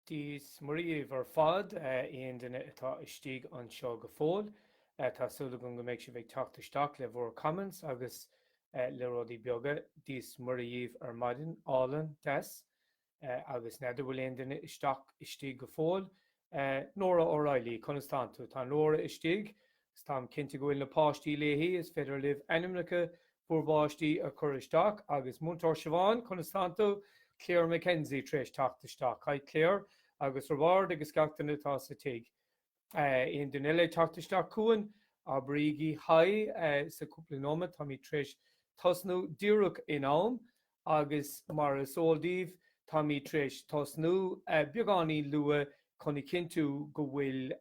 Dia is Muire dhaoibh ar fad, aon duine atá istigh anseo go fóill. Tá súil agam go mbeidh sibh ag teacht isteach le bhur comments agus le rudaí beaga. Dia is Muire dhaoibh ar maidin álainn, deas. Agus n'fheadar bhfuil aon duine isteach istigh go fóill? Nora O'Reilly, Conas tánn tú? Tá Nora istigh, agus táim cinnte go bhfuil na páistí léi. Is féidir libh ainmneacha bhur bpáistí a chur isteach. Agus Múinteoir Siobhán, Conas tánn tú? Claire McKenzie tar éis teacht isteach. Hi Claire, agus Roibeárd agus gach éinne atá sa tigh. Aon duine eile ag teacht isteach chugainn? Abraigí haigh sa chúpla nóiméad, táimid tar éis tosnú díreach in am. agus mar is eol daoibh táimid tar éis tosnú beagáinín luath chun a chinntiú go bhfuil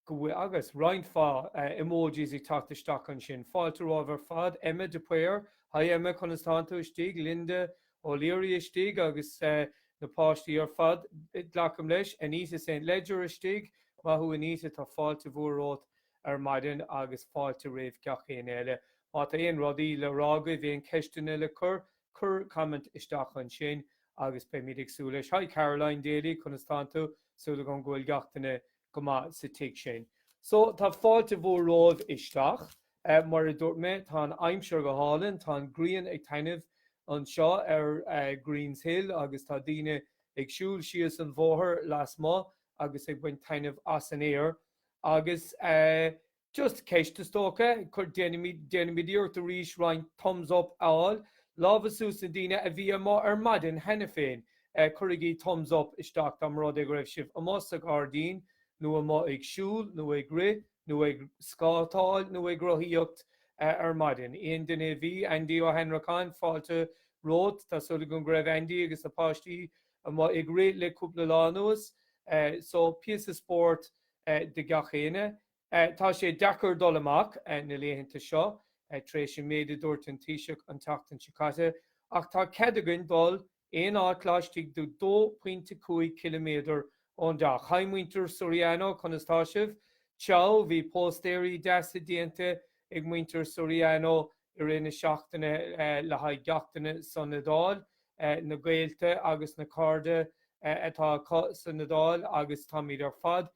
go bhfuil agus roinnt mhaith emojis ag teacht isteach ansin. Fáilte romhaibh ar fad. Emma de Paor, Haigh Emma, conas tánn tú? Istigh. Linda O'Leary, Istigh agus na páistí ar fad, glacaim leis. Anita St. Ledger, Istigh. Maith thú Anita, tá fáilte mhór romhat ar maidin agus fáilte roimh gach éinne eile. Má tá aon rudaí le rá agaibh, aon ceisteanna le cur, cuir comment isteach ansin agus beimid ag súil leis. Hi Caroline Daly, conas tánn tú? Súil agam go bhfuil gach éinne go maith sa tigh sin. So, tá fáilte mhór romhaibh isteach. Mar a dúirt mé, tá an aimsir go hálainn, tá an ghrian ag taitneamh anseo ar Green's Hill agus tá daoine ag siúl síos an bóthar lasmuigh agus ag baint taitneamh as an aer. Agus just ceist is dócha, a chur, déanfaimid iarracht arís roinnt thumbs up a fháil. Lámha suas na daoine a bhí amuigh ar maidin cheana féin. Cuirigí thumbs up isteach más rud é go raibh sibh amuigh sa ghairdín nó amuigh ag siúl nó ag rith nó ag scátáil nó ag rothaíocht ar maidin. Aon duine a bhí? Aindí Ó hAnnracháin, fáilte romhat. Tá súil agam go raibh Aindí agus na páistí Amuigh ag rith le cúpla lá anuas so píosa spóirt do gach éinne. Tá sé deacair dul amach na laethanta seo tar éis an méid a dúirt an Taoiseach an tseachtain seo caite ach tá cead againn dul aon áit laistigh de 2.5 km ón dteach. Haigh muintir Soriano conas tá sibh? Ciao, bhí póstaeirí deasa déanta ag muintir Soriano i rith na seachtaine le haghaidh gach éinne san Iodáil, na gaolta agus na cairde atá acu san Iodáil agus táimid ar fad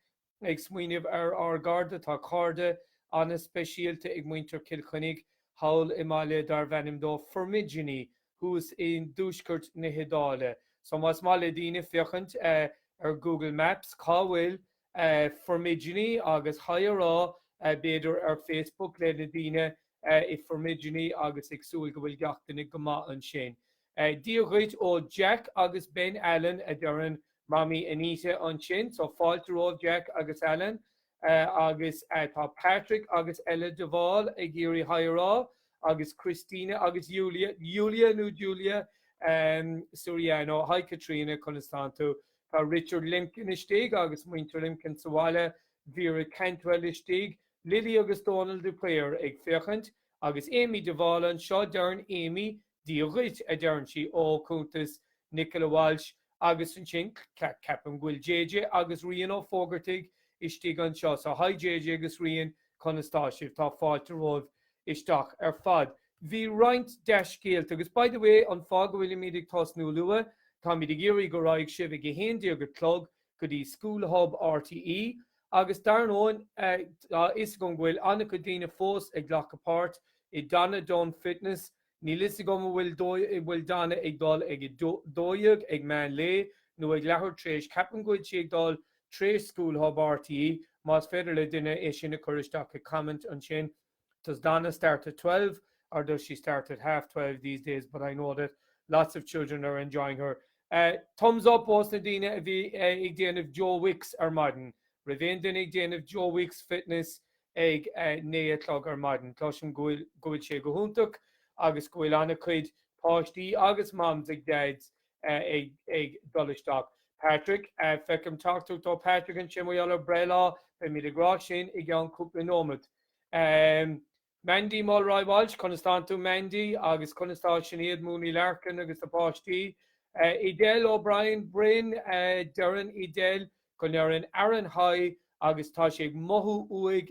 ag smaoineamh ar ár gcairde. Tá cairde ana-speisialta ag muintir Chill Chainnigh thall i mbaile darb ainm dó Formigine thuas i dtuaisceart na hIodáile. So más maith le daoine féachaint ar Google Maps cá bhfuil Formaidini agus haigh a rá b'fhéidir ar Facebook le na daoine i Formaidini agus ag súil go bhfuil gach duine go maith ansin. Dia dhuit ó Jack agus Ben Allen a deireann Mamaí Anita ansin so fáilte romhaibh Jack agus Allen agus tá Patrick agus Ella de Bhál ag iarraidh haigh a rá agus Christina agus Julia, Yulia nó Julia? Suriano, haigh Caitríona conas tánn tú? Tá Richard Limkin istigh agus muintir Limkin sa bhaile, Vera Cantwell istigh, Lily agus Dónal de Paor ag féachaint, agus Amy de Bhál anseo, deireann Amy, Dia dhuit, a deireann sí, ó chuntas Nicola Walsh, agus ansin ceapaim go bhfuil JJ agus Rian Ó Fógartaigh istigh anseo, so haigh JJ agus Rian, conas tá sibh? Tá fáilte romhaibh isteach ar fad. Bhí roinnt dea-scéalta agus by the way, an fáth go bhfuilimid ag tosnú luath, táimid ag iarraidh go raghadh sibh ag a haon déag a chlog go dtí School Hub RTÉ agus dar ndóin, tá a fhios agam go bhfuil an-chuid daoine fós ag glacadh páirt i Donna Dunne Fitness, níl a fhios agam an bhfuil Donna ag dul ag a dó dhéag ag meán lae nó ag leathuair tréis, ceapaim go bhfuil sí ag dul tréis School Hub RTÉ, más féidir le duine é sin a chur isteach i comment ansin. Does Donna start at twelve or does she start at half twelve these days but I know that lots of children are enjoying her eh, thumbs up ós na daoine a bhí eh, ag déanamh Joe Wicks ar maidin. raibh aon duine ag déanamh Joe Wicks fitness ag eh, naoi a chlog ar maidin. Cloisim go bhfuil sé go hiontach agus go bhfuil an-chuid páistí agus moms agus dads ag dul isteach. Patrick, Feicim teachtaireacht ó Patrick ansin maidir le breithlá, beimid ag rá sin i gceann cúpla nóiméad. Mandy Mulroy Walsh, Conas tá tú Mandy agus conas tá Sinéad Mooney Larkin agus na páistí? Edel O'Brien Bryn, Deireann Edel go ndeireann Aaron haigh agus tá sé ag mothú uaidh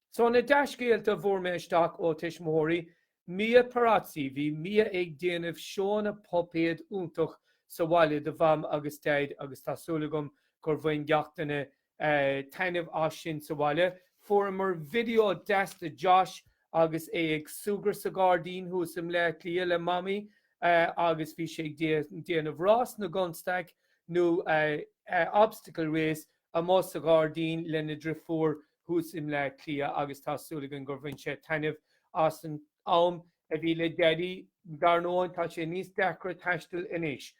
So na dea-scéalta a bhfuair mé isteach ó tuismitheoirí, Mia Perazzi, bhí Mia ag déanamh seóanna puipéad iontach sa bhaile do Mham agus Daid agus tá súil agam gur bhain gach duine taitneamh as sin sa bhaile. Fuaireamar video deas de Josh agus é ag súgradh sa ghairdín thuas i mBleá Cliath le Mamaí agus bhí sé ag déanamh rás na gconstaic nó obstacle race amuigh sa ghairdín lena driofúr thuas i mBleá Cliath agus tá súil againn gur bhain sé taitneamh as an am a bhí le Daidí. Dar ndóigh tá sé níos deacra taisteal anois.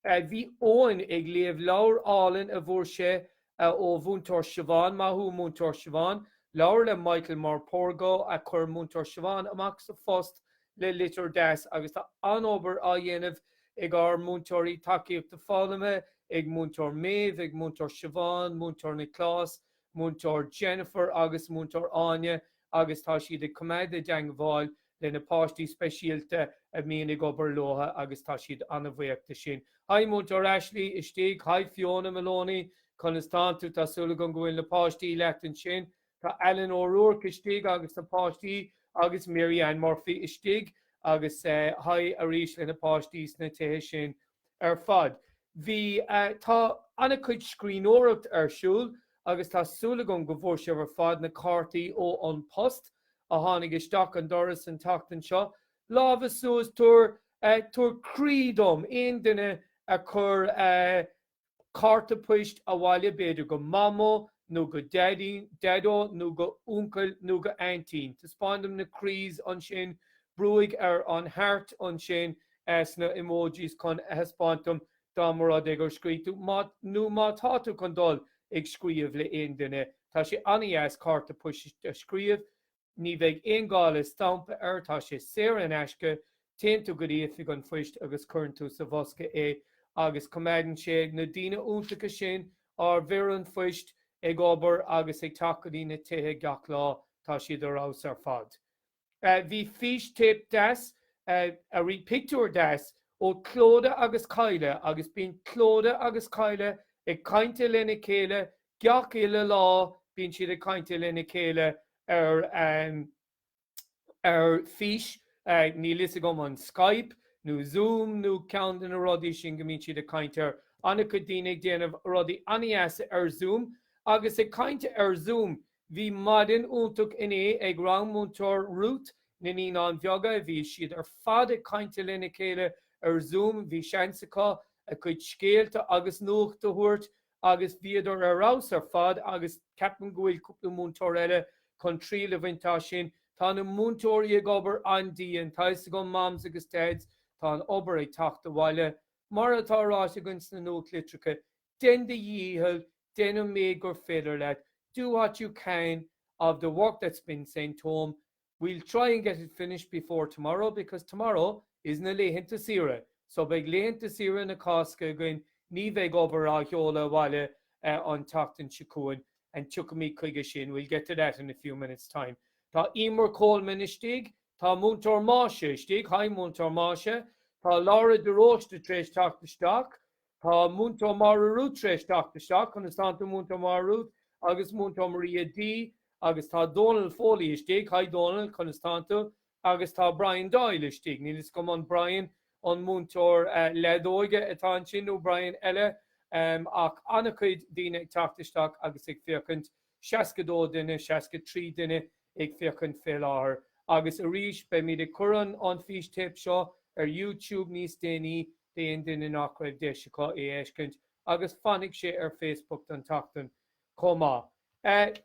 Bhí Eoin ag léamh leabhar álainn a bhfuair sé ó Mhúinteoir Siobhán, maith thú Múinteoir Siobhán. Leabhar le Michael Morpurgo a chuir Múinteoir Siobhán amach sa phost le litir deas agus tá an-obair á dhéanamh ag ár múinteoirí tacaíochta foghlama ag Múinteoir Méabh, ag Múinteoir Siobhán, Múinteoir Nioclás, Múinteoir Jennifer agus Múinteoir Áine agus tá siad ag coimeád i dteagmháil le na páistí speisialta a mbíonn ag obair leo agus táimid an-bhuíoch de sin. Haigh Múinteoir Ashley, istigh, Haigh Fiona Maloney, conas tá tú? Tá súil againn go bhfuil na páistí leat ansin. Tá Ellen O'Rourke istigh agus na páistí agus Mary Ann Murphy istigh agus haigh arís le na páistí sna tithe sin. ar fad. Bhí, tá, an-chuid scríbhneoireachta ar siúl agus tá súil againn go bhfuair sibh ar fad na cártaí ó An Post a tháinig isteach an doras an tseachtain seo. Lámha suas, tabhair, tabhair croí dom, aon duine a chuir. Cárta poist abhaile b'fhéidir go Mamó nó go Daidí, Daideo nó go Uncail nó go Aintín. Taispeáin dom na croíthe ansin, brúigh ar an heart ansin sna emojis chun a thaispeáint dom dá mba rud é gur scríobh tú nó má tá tú chun dul ag scríobh le aon duine. Tá sé an-dheas cárta poist a scríobh Ní bheidh aon ghá le stampa air, tá sé saor in aisce, téann tú go dtí oifig an phoist agus cuireann tú sa bhosca é agus coimeádann sé na daoine iontacha sin ár bhfir an phoist ag obair agus ag teacht go dtí na tithe gach lá, tá siad ar fheabhas ar fad. Bhí fís téip deas, arís pictiúr deas, ó Clodagh agus Kyle agus bíonn Clodagh agus Kyle ag caint lena chéile Gach uile lá bíonn siad ag caint lena chéile ar ar fís, níl fhios agam an Skype nó Zoom nó ceann de na rudaí sin go mbíonn siad ag caint air. An-chuid daoine ag déanamh rudaí an-dheasa ar Zoom. Agus ag caint ar Zoom, bhí maidin iontach inné ag rang Múinteoir Ruth, na Naíonáin Bheaga. Bhí siad ar fad ag caint lena chéile ar Zoom. Bhí seans acu a cuid scéalta agus nuacht a thabhairt agus bhíodar ar fheabhas ar fad agus ceapaim go bhfuil cúpla múinteoir eile chun triail a bhaint as sin. Tá na múinteoirí ag obair an-dian, tá 'fhios agam Moms agus Dads, tá an obair ag teacht abhaile. Mar atá ráite againn sna nuachtlitreacha, dein do dhícheall, dein an méid gur féidir leat, do what you can of the work that's been sent home, We'll try and get it finished before tomorrow because tomorrow is na laethanta saoire so beidh laethanta saoire na Cásca againn, ní bheidh obair á sheoladh abhaile an tseachtain seo chugainn and tiocfaimid chuige sin, we'll get to that in a few minutes' time. Tá Eimear Coleman istigh, tá Múinteoir Máise istigh, hi Múinteoir Máise, tá Laura de Róiste tar éis teacht isteach, Tá Múinteoir Máire Rút tar éis teacht isteach conas tánn tú, Múinteoir Máire Rút agus Múinteoir Maria D agus tá Dónal Foley istigh, haigh Dónal, conas tánn tú agus tá Brian Doyle istigh, níl 'fhios agam an Brian an múinteoir leadóige atá ansin nó Brian eile ach an-chuid daoine ag teacht isteach agus ag féachaint, 62 duine, 63 duine ag féachaint fé láthair. Agus arís, beimid ag cur an an fhístéip seo ar You Tube níos déanaí d'aon duine nach raibh deis acu é a fheiscint, agus fanfaidh sé ar Facebook don tseachtain chomh maith.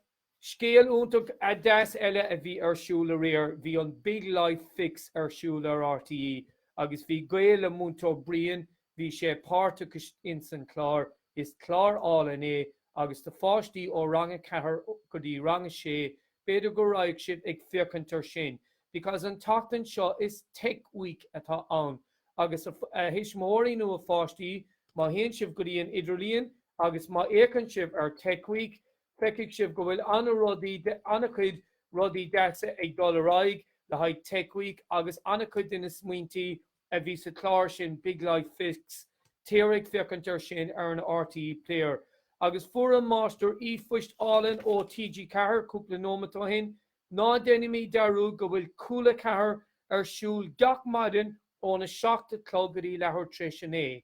Scéal iontach deas eile a bhí ar siúl aréir, bhí an Big Life Fix ar siúl ar RTÉ agus bhí gaol le Múinteoir Brian Bhí sé páirteach ins an chlár, is clár álainn é agus do pháistí ó rang a ceathair go dtí rang a sé, b'fhéidir go raghaidh sibh ag féachaint ar sin because an tseachtain seo is tech week atá ann agus a thuismitheoirí nó a pháistí má théann sibh go dtí an idirlíon agus má fhéacann sibh ar tech week feicfidh sibh go bhfuil an-rudaí, an-chuid rudaí deasa ag dul ar aghaidh le haghaidh tech week agus an-chuid de na smaointí a a bhí sa chlár sin Big Life Fix, téire ag féachaint ar sin ar an RTÉ Player. Agus fuair an Máistir e-phost álainn ó TG Ceathair cúpla nóimeat ó shin, ná deinimíd dearúd go bhfuil Cúla 4 ar siúl gach maidin óna seacht a chlog go dtí leathuair tar éis a naoi.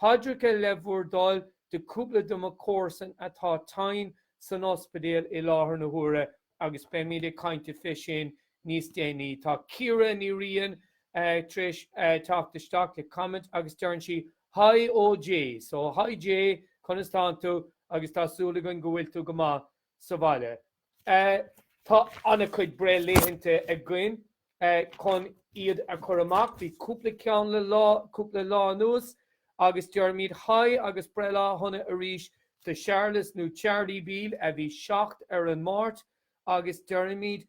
Paidreacha le bhur dtoil do chúpla do mo chomharsan atá tinn san ospidéal i láthair na huaire agus beimid ag caint faoi sin níos déanaí. Tá Ciara Ní Riain tar éis teacht isteach le comment agus deireann sí Haigh ó J. So, haigh J, conas tánn tú? Agus tá súil againn go bhfuil tú go maith. sa bhaile. Tá ana cuid breithlaethanta againn chun iad a chur amach. Bhí cúpla ceann le cúpla lá anuas agus deirimid haigh agus breithlá shona arís do Shéarlas nó Charlie Beale a bhí seacht ar an Máirt agus deirimid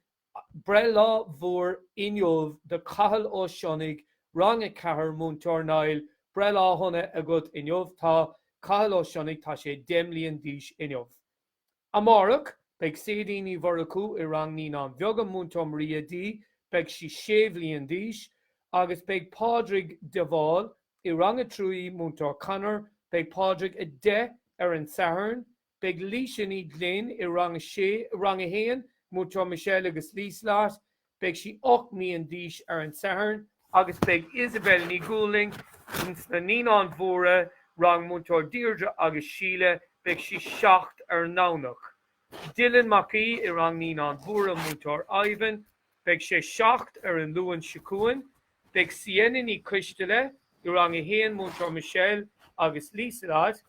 breithlá mhór inniu do Cathal Ó Sionnaigh, Rang 4, Múinteoir Niall, breithlá shona agat inniu. Tá Cathal Ó Sionnaigh, tá sé deich mbliain d'aois inniu. Amárach, beidh Sadie Ní Mhurchú i rang Naíonáin Bheaga, Múinteoir Maria D, beidh sí sé bhliain d'aois, agus beidh Pádraig de Bhál i rang a trí, Múinteoir Conor, beidh Pádraig a deich ar an Satharn. Beidh Laoise Ní Ghlinn i rang a sé, rang a haon, Múinteoir Michelle agus Liselott, Beidh sí ocht mbliana d'aois ar an Satharn. Agus beidh Isabelle Ní Dhúlaing sna Naíonáin Mhóra, rang Múinteoir Deirdre agus Síle, beidh sí seacht ar an nDomhnach. Dylan Mac Aoidh i rang Naíonáin Mhóra Múinteoir Ivan, beidh sé seacht ar an Luan seo chugainn. Beidh Sienna Ní Choisteala i rang a haon Múinteoir Michelle agus Lieselott,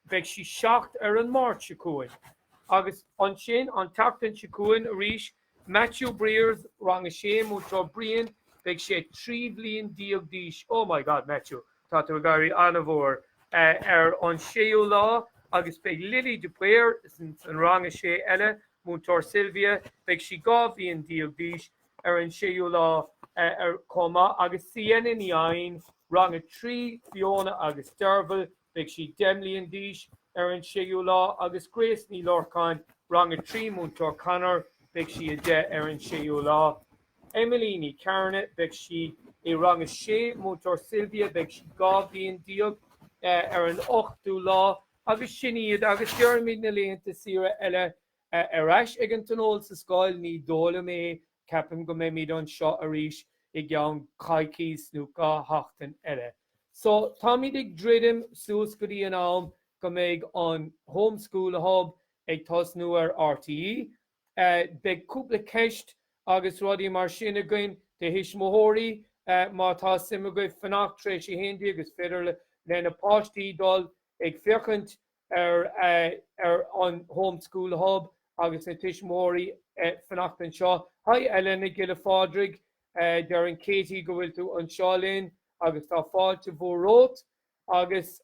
Beidh sí 7 ar an Máirt seo chugainn. Agus ansin an tseachtain seo chugainn arís, Matthew Briers, rang a sé, Múinteoir Brian, beidh sé 13 bhliain d'aois, oh my god Matthew, tá tú ag éirí an-mhór, ar an séú lá. Agus beidh Lily de Paor san rang a sé eile, Múinteoir Sylvia, beidh sí 12 bhliain d'aois, ar an séú lá chomh maith. Agus Sienna Ní Eidhin, rang a trí, Fiona agus Derval, Beidh sí deich mbliana d'aois ar an 6ú lá agus Grace Ní Lorcáin, Rang 3, Múinteoir Conor, beidh sí a 10 ar an 6ú lá. Emily Ní Chearna, beidh sí i Rang 6, Múinteoir Sylvia, beidh sí dhá bhliain déag ar an 8ú lá. Agus sin iad agus deirimid na laethanta saoire eile Ar ais ag an Tionól sa scoil, ní dóigh liom é, ceapaim go mbeimid anseo arís i gceann coicís nó dhá sheachtain eile. So, táimid ag druidim suas go dtí an am go mbeidh an Home School Hub ag tosnú ar RTÉ. Beidh cúpla ceist agus rudaí mar sin againn do thuismitheoirí má tá suim agaibh fanacht tar éis a haon déag is féidir le na páistí dul ag féachaint ar ar an Home School Hub agus na tuismitheoirí fanacht anseo. Haigh a Elena Giolla Phádraig, deireann Katie go bhfuil tú anseo linn agus tá fáilte mhór romhat. Agus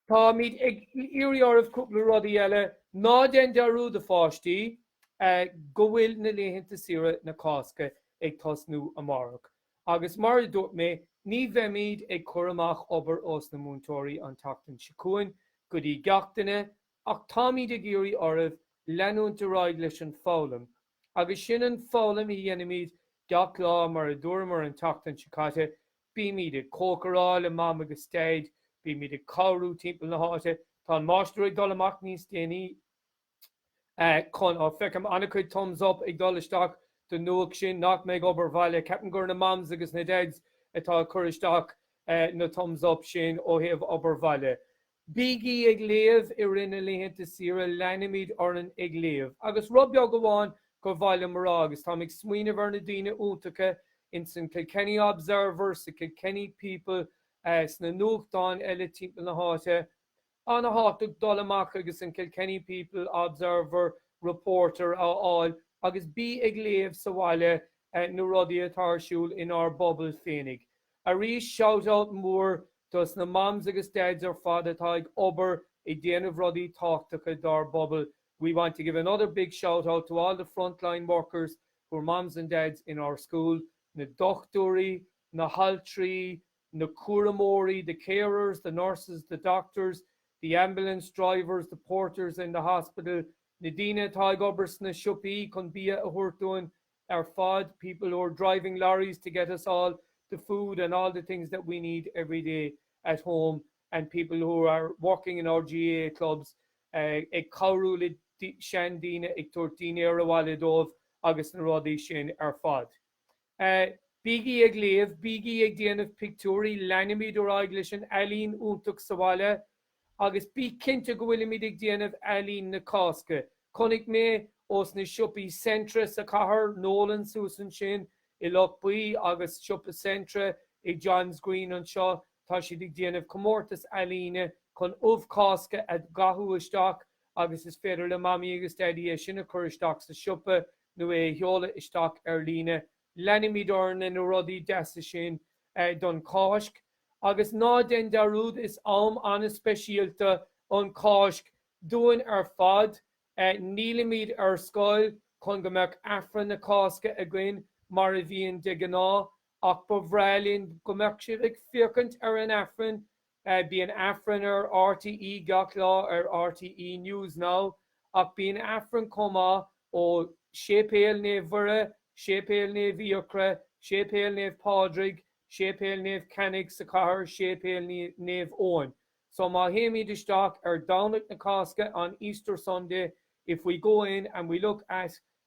táimid ag iarraidh oraibh cúpla rudaí eile, ná déan dearúd a pháistí go bhfuil na laethanta saoire na Cásca ag tosnú amárach. Agus mar a dúirt mé, ní bheimid ag cur amach obair ós na múinteoirí an tseachtain seo chugainn go dtí gach duine ach táimid ag iarraidh oraibh leanúint ar aghaidh leis an foghlaim agus sin an foghlaim a dhéanaimid gach lá mar a dúramar an tseachtain seo caite, bímid ag cócaráil le Mam agus Daid, bímid ag cabhrú timpeall na háite, tá an máistir ag dul amach níos déanaí. Con, Ó feicim an-chuid thumbs up ag dul isteach don nuacht sin nach mbeidh obair bhaile. Ceapaim gur na mams agus na dads atá ag cur isteach na thumbs up sin ó thaobh obair bhaile. Bígí ag léamh i rith na laethanta saoire, leanaimid orainn ag léamh. Agus rud beag amháin gur mhaith liom a rá, agus táim ag smaoineamh ar na daoine iontacha ins an Kilkenny Observer, sa Kilkenny People, sna nuachtáin eile timpeall na háite, Ana-thábhachtach dul amach agus an Kilkenny People, Observer, Reporter a fháil agus bí ag léamh sa bhaile na rudaí atá ar siúl inár bpobail féinig. Arís shout out mór dos na moms agus dads ar fad atá ag obair ag déanamh rudaí tábhachtacha dár bpobail. We want to give another big shout out to all the frontline workers who are moms and dads in our schools, na dochtúirí, na haltraí, na cúramóirí, the carers, the nurses, the doctors, the ambulance drivers, the porters in the hospital na daoine atá ag obair sna siopaí chun bia a thabhairt dúinn ar fad, people who are driving lorries to get us all the food and all the things that we need every day at home and people who are working in our GAA clubs ag cabhrú le seandaoine, ag tabhairt dínnéar abhaile dóibh agus na rudaí sin ar fad. A, Bígí ag léamh, bígí ag déanamh pictiúirí, leanfaimid ar aghaidh leis an ealaín iontach sa bhaile agus bí cinnte go bhfuilimid ag déanamh ealaín na Cásca. Chonaic mé ó na siopaí Centra sa chathair, Nolan's thuas ansin i Loch Buí agus siopa Centra i John's Green anseo, tá siad ag déanamh comórtas ealaíne chun ubh Cásca a dhathú isteach agus is féidir le Mamaí agus Daidí é sin a chur isteach sa siopa nó é a sheoladh isteach ar líne. Leanfaimid orainn le na rudaí deasa sin don Cháisc agus ná déan dearúd is am an-speisialta an Cháisc dúinn ar fad. Nílimid ar scoil chun go mbeadh Aifreann na Cásca againn mar a bhíonn de ghnáth ach ba bhreá linn go mbeadh sibh ag féachaint ar an Aifreann Bíonn Aifreann ar RTÉ gach lá ar RTÉ News Now ach bíonn Aifreann chomh maith ó Séipéal Naomh Mhuire, Séipéal Naomh Fhiachra, Séipéal Naomh Pádraig, Séipéal Naomh Cainnigh sa chathair, Séipéal Naomh Eoin. So má théimid isteach ar Domhnach na Cásca on Easter Sunday if we go in and we look at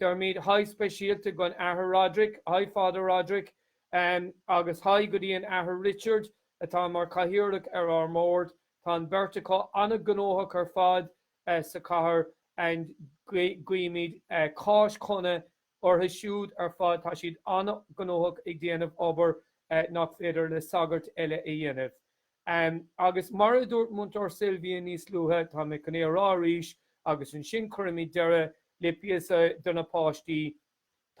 Deirimid haigh speisialta don Athair Roderick, haigh Father Roderick, agus haigh go dtí an Athair Richard atá mar Chathaoirleach ar ár mBord. Tá an beirt acu an-gnóthach ar fad sa chathair and guímid Cáisc shona orthu siúd ar fad. Tá siad an-gnóthach ag déanamh obair nach féidir le sagairt eile a dhéanamh. Em, agus mar a dúirt Múinteoir Sylvia níos luaithe, tá mé chun é a rá arís agus ansin cuirfimid deireadh le píosa do na páistí,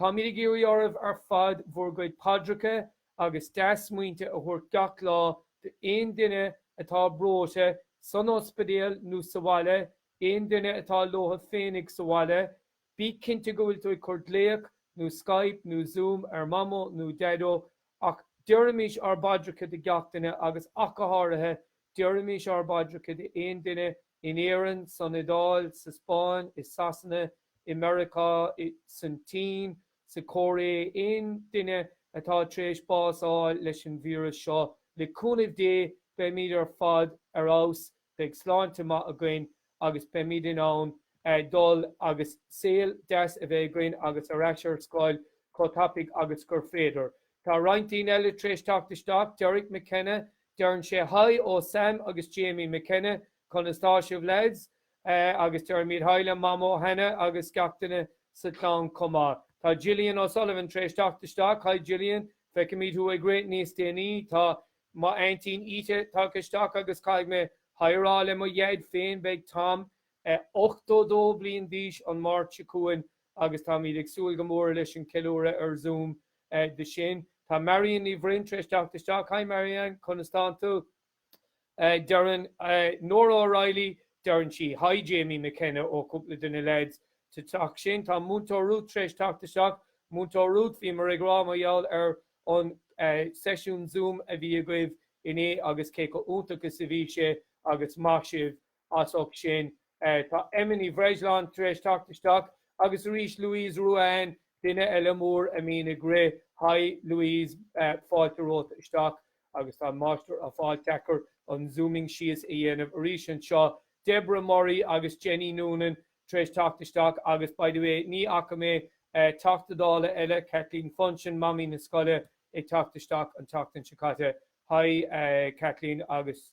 táimid ag iarraidh oraibh ar fad bhur gcuid paidreacha agus dea-smaointe a thabhairt gach lá d'aon duine atá breoite san ospidéal nó sa bhaile, aon duine atá leotha féinig sa bhaile. Bí cinnte go bhfuil tú ag cur glaoch nó Skype nó Zoom ar Mamó nó Deaideo, ach deirimís ár bpaidreacha do gach duine agus ach go háirithe deirimís ár bpaidreacha do aon duine in Éirinn, san Iodáil, sa Spáinn, i Sasana, i Meiriceá, san tSín, sa Chóiré, aon duine atá tar éis bás fháil leis an víreas seo. Le cúnamh Dé beimíd ar fad ar fheabhas Beidh sláinte maith againn agus beimid in ann dul agus saol deas a bheith againn agus ar ais ar scoil chomh tapaidh agus gur féidir. Tá roinnt daoine eile tar éis teacht isteach, Derek McKenna, deireann sé haigh ó Sam agus Jamie McKenna, conas tá sibh lads? agus deirimid haigh le mamó Hannah agus gach duine sa clann chomh maith. Tá Gillian O'Sullivan tar éis teacht isteach, haigh Gillian, feicimid thú ag rith níos déanaí. Tá Mo aintín Íte tagtha isteach agus caithfidh mé haigh a rá le mo dhaid féin. Beidh Tom 82 bliain d'aois an Mháirt seo chugainn agus táimíd ag súil go mór leis an ceiliúradh ar Zoom do sin. Tá Marian Ní Bhroin tar éis teacht isteach. Hi Marian, conas tá tú? Deireann Nóra O'Reilly, deireann sí Hi Jamie McKenna ó cúpla de na leaids sa teach sin. Tá Múinteoir Ruth tar éis teacht isteach. Múinteoir Ruth, bhíomar ag rá mar gheall ar an seisiún Zoom a bhí agaibh inné agus cé chomh iontach is a bhí sé agus maith sibh as ucht sin. Tá Emma Ní Bhreisleáin tar éis teacht isteach agus arís Louise Ruane, duine eile mór a mbíonn ag rith. Haigh Louise, fáilte romhat isteach agus tá an Máistir á fháil deacair an zooming síos a dhéanamh arís anseo. Deborah Murray agus Jenny Noonan tar éis teacht isteach agus by the way ní fhaca mé Teachta Dála eile, Kathleen Funchion, Mamaí na Scoile, ag teacht isteach an tseachtain seo caite. Haigh Kathleen agus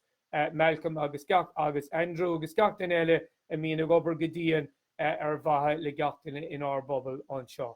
Malcolm agus gach agus Andrew agus gach duine eile a mbíonn ag obair go dian ar mhaithe le gach duine inár bpobal anseo.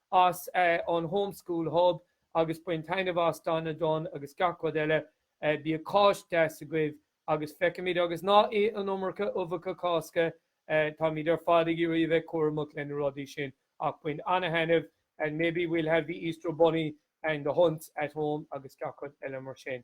as an Home School Hub agus bain taitneamh as Dan na dTonn agus gach rud eile. Bíodh Cáisc deas agaibh agus feicfimid agus ná ith an iomarca uibheacha Cásca, táimid ar fad ag iarraidh a bheith cúramach le na rudaí sin ach bain an-thaitneamh and maybe we'll have the Easter Bunny and the hunt at home agus gach rud eile mar sin.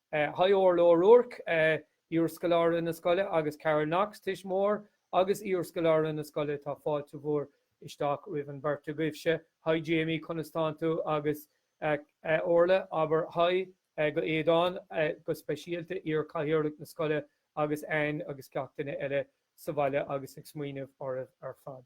Haigh Órla Ó Ruairc, iarscoláire na scoile agus Carol Knox, tuismitheoir agus iarscoláire na scoile, tá fáilte mhór isteach roimh an bheirt agaibh. Haigh Jamie, conas tánn tú? Agus Órla, abair haigh go Éadán, go speisialta, iarchathaoirleach na scoile agus Anne agus gach duine eile sa bhaile agus ag smaoineamh oraibh ar fad.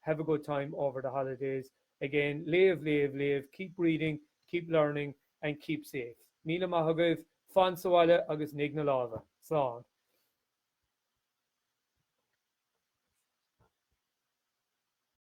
have a good time over the holidays, again léamh, léamh, léamh keep reading, keep learning and keep safe míle maith agaibh, fan sa bhaile agus nigh na lámha! Slán!